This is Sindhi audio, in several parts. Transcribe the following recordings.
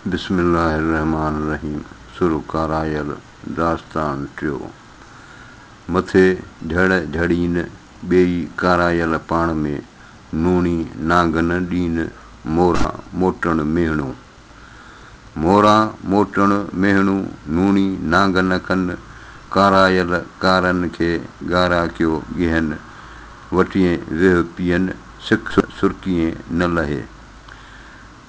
بسم الله الرحمان الرحيم سر ڪارايل داستان ٽيو مٿي جھڙ جھڙين ٻيئي ڪارايل پاڻ ۾ نوڻي نانگن ڏين مورا موٽڻ ميهڻو مورا موٽڻ ميهڻو نوڻي نانگن ڪن ڪارايل ڪارن کي ڳارا ڪيو ڳيهن وٽيين ويهه پيئن سک سرڪيين نه لهي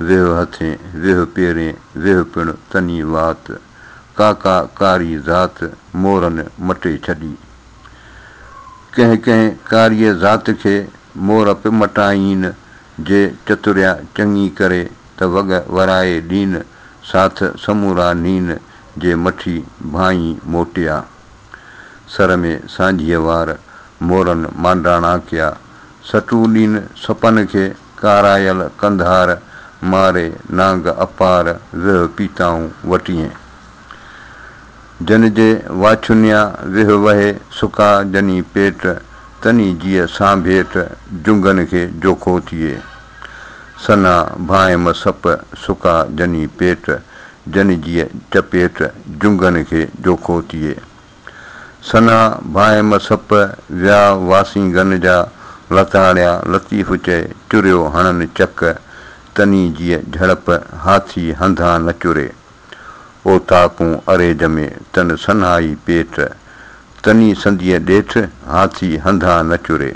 ويهه هٿين، ويهه پيرين، ويهه پڻ تني وات، ڪاڪا ڪاري ذات، مورن مٽي ڇڏي. ڪنهن ڪنهن ڪاريء ذات کي مور به مٽائين، جي چتريا چڱي ڪري ته وڳ ورائي ڏين، ساٿ سمورا نين، جي مٺي ڀانئين موٽيا. سر ۾ سانجهيء وار، مورن مانڊاڻا ڪيا، سٽون ڏين سپن کي. ڪارايل ڪنڌار ماري نانگ اپار ويهه پيتائون وٽيين. جن جي واڇونيا ويهه وهي سڪا جني پيٽ تني جيء سانڀيٽ جنگن کي جوکو ٿئي. سنا ڀانئم سپ سڪا جني پيٽ جن جيء چپيٽ جنگن کي جوکو ٿئي. سنها ڀانء م سپ ويا واسين گن جا لتاڙيا لطيف چئي چريو هڻن چڪ تني جيء جهڙپ هاٿي هنڌان نه چري اوطاقون اري جمي تن سنهائي پيٽ تني سنديء ڏيٺ هاٿي هنڌان نه چري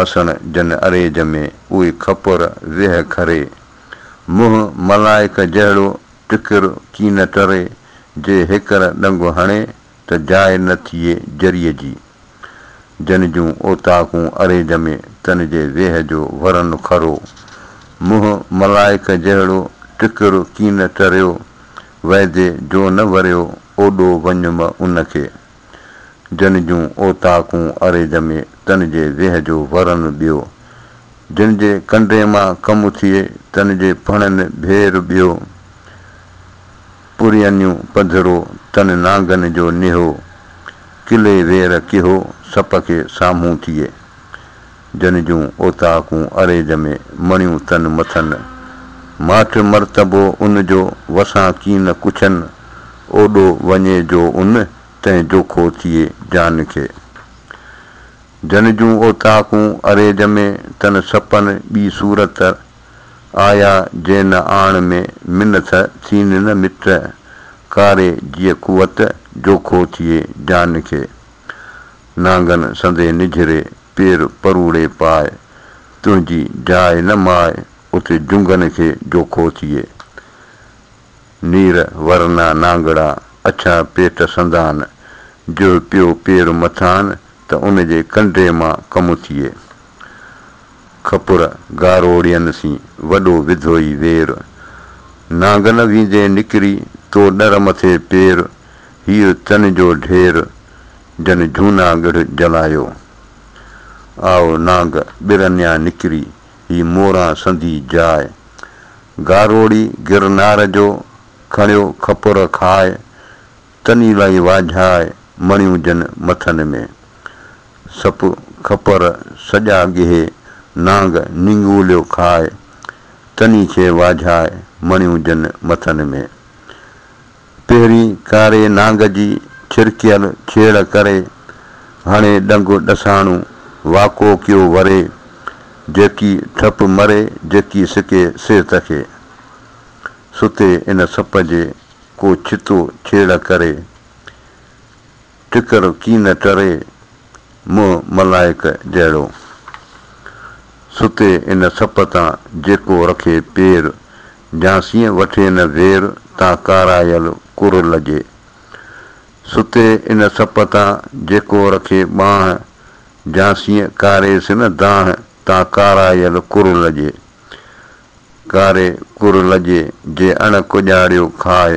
آسڻ جن اري جمي اهي کپر ويهه کري منهن ملائڪ جهڙو ٽڪر ڪين ٽري جي هيڪر ڏنگو هڻي ته جاء نه ٿئي جريء جي. جن جون اوطاقون اري ڄمي تن جي ويهه جو ورن کرو. منهن ملائڪ جهڙو ٽڪر ڪين ٽريو، وعدي جو نه وريو اوڏو وڃم ان کي. جن جون اوطاقون اري ڄمي تن جي ويهه جو ورن ٻيو جن جي ڪنڊي مان ڪم ٿئي تن جي ڦڻن ڀير ٻيو پرينيون پڌرو تن نانگن جو نهو ڪلي وير ڪهو سپ کي سامهون ٿئي جن جون اوطاقون عريض ۾ مڻيون تن مٿن ماٺ مرتبو ان جو وسان ڪين ڪڇن اوڏو وڃي جو ان تنهن جوکو ٿئي جان کي جن جون اوطاقون عريض ۾ تن سپن ٻي صورت آيا جي نه آڻ ۾ منٿ ٿين نه مٽ ڪاري جيء قوت جوکو ٿئي جان کي. نانگن سندي نجهري پير پروڙي پاء، تنهنجي جاء نه ماء، اتي جهنگن کي جو ڪو ٿئي. نير ورنا نانگڙا، اڇا پيٽ سندان، جوهه پيو پير مٿان، ته ان جي ڪنڊي مان ڪم ٿئي. کپر گاروڙين سين، وڏو وڌوئي وير، نانگن ويندي نڪري، تو ڏر مٿي پير، هيء تن جو ڍير، جن جهونا ڳڙهه جلايو. آء نانگ ٻرنيان نڪري، هي موران سندي جاء. گاروڙي گرنار جو، کڻيو کپر کاء. تني لئي واجهاء، مڻيون جن مٿن ۾. سپ کپر سڄا ڳهي، نانگ نينگوليو کاء. تني کي واجهاء، مڻيون جن مٿن ۾. پهرين ڪاري نانگ جي ڇرڪيل ڇيڙ ڪري، هڻي ڏنگ ڏساڻو واڪو ڪيو وري، جيڪي ٺپ مري جيڪي سڪي سي تکي، ستي ان سپ جي ڪو ڇتو ڇيڙ ڪري. ٽڪر ڪين ٽري، منهن ملائڪ جهڙو. ستي ان سپ تان جيڪو رکي پير، جھانسيء وٺي نه زير تان ڪارايل ڪر لڄي. ستي ان سپ تان جيڪو رکي ٻانهه، جھانسيء ڪاريس نه دانهه تان ڪارايل ڪر لڄي. ڪاري ڪر لڄي، جي اڻ ڪڄاڙيو کاء.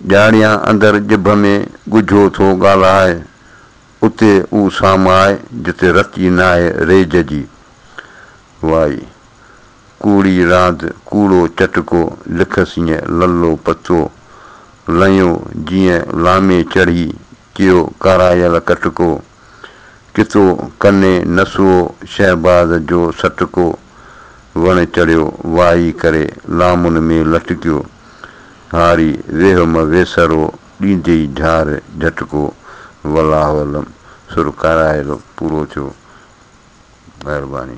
ڄاڻيان اندر ڄڀ ۾ ڳجهو ٿو ڳالهائي، اتي او سامائي جتي رت ئي ناهي ريج جي. وائي! ڪوڙي راند ڪوڙو چٽڪو لکسينء للو پتو لنيو جيئن لامي چڙهي ڪيو ڪارايل ڪٽڪو، ڪتو ڪني نسوئو شهباز جو سٽڪو، وڻ چڙهيو وائي ڪري لامن ۾ لٽڪيو، هاري ويهه م ويسرو ڏيندي جهار جهٽڪو، ولاولم سر ڪارايل پورو ٿيو. مهرباني.